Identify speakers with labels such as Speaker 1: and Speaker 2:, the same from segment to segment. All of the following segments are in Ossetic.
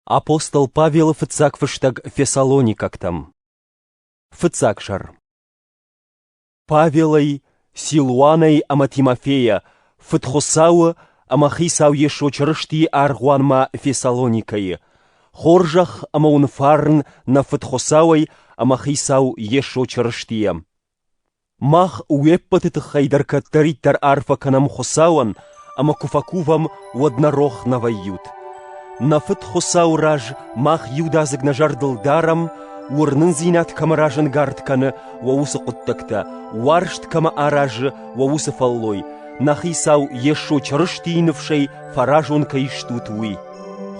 Speaker 1: Апостол Павелы фыццаг фыстӕг фессалоникӕгтӕм. Фыццаг сӕр. Павелӕй, Силуанӕй ӕмӕ Тимофейӕ фыд Хуыцауы ӕмӕ Хицау Йесо Чырыстийы аргъуанмӕ Фессалоникӕйы, хорзӕх ӕмӕ уын фарн нӕ фыд Хуыцауӕй ӕмӕ Хицау Йесо Чырыстийӕ. Мах уе ппӕты тыххӕй дӕр кӕддӕриддӕр арфӕ кӕнӕм Хуыцауӕн ӕмӕ куы фӕкувӕм, уӕд нӕ рох нӕ вӕййут. Нӕ Фыд Хуыцауы раз мах иудадзыг нӕ зӕрдыл дарӕм, уырнындзинад кӕмӕ разӕнгард кӕны уӕ уыцы хъуыддӕгтӕ, уарзт кӕмӕ аразы уӕ уыцы фӕллой, нӕ Хицау Йесо Чырыстийы ныфсӕй фӕразон кӕй стут, уый.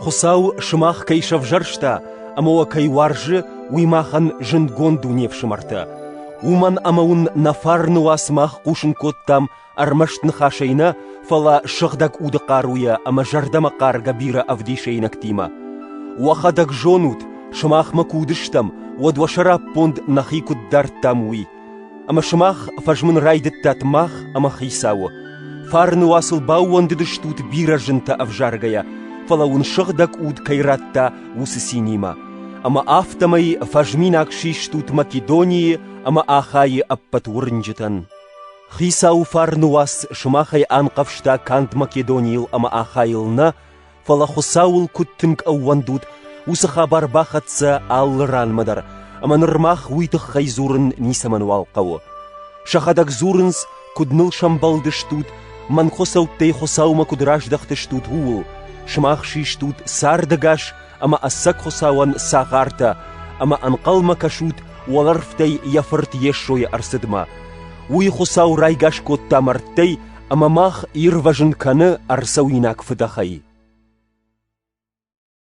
Speaker 1: Хуыцау сымах кӕй сӕвзӕрста ӕмӕ уӕ кӕй уарзы, уый махӕн зындгонд у не фсымӕртӕ. Уымӕн ӕмӕ уын нӕ фарны уа сымах хъусын кодтам ӕрмӕст ныхасӕй нӕ, фӕлӕ сыгъдӕг уды хъаруйӕ ӕмӕ зӕрдӕмӕхъаргӕ бирӕ ӕвдисӕйнӕгтимӕ. Уӕхӕдӕг зонут, сымахмӕ куы уыдыстӕм, уӕд уӕ сӕраппонд нӕхи куыд дардтам, уый. Ӕмӕ сымах фӕзмын райдыдтат мах ӕмӕ Хицауы. Фарны уацыл баууӕндыдыстут бирӕ зынтӕ ӕвзаргӕйӕ, фӕлӕ уын сыгъдӕг уд кӕй радта, уыцы цинимӕ. Ӕмӕ афтӕмӕй фӕзминаг систут Македонийы ӕмӕ Ахайы ӕппӕт уырнджытӕн. Хицауы фарны уац сымахӕй анхъӕвзта канд Македонийыл ӕмӕ Ахайыл нӕ, фӕлӕ Хуыцауыл куыд тынг ӕууӕндут, уыцы хабар бахӕццӕ алы ранмӕ дӕр, ӕмӕ ныр мах уый тыххӕй дзурын ницӕмӕнуал хъӕуы. Сӕхӕдӕг дзурынц, куыд ныл сӕмбӕлдыстут, мӕнгхуыцӕуттӕй Хуыцаумӕ куыд раздӕхтыстут, ууыл, сымах систут цардӕгас ӕмӕ ӕцӕг Хуыцауӕн цагъартӕ, ӕмӕ ӕнхъӕлмӕ кӕсут уӕлӕрвтӕй йӕ Фырт Йесойы ӕрцыдмӕ. Уый Хуыцау райгас кодта мӕрдтӕй ӕмӕ мах ирвӕзын кӕны ӕрцӕуинаг фыдӕхӕй.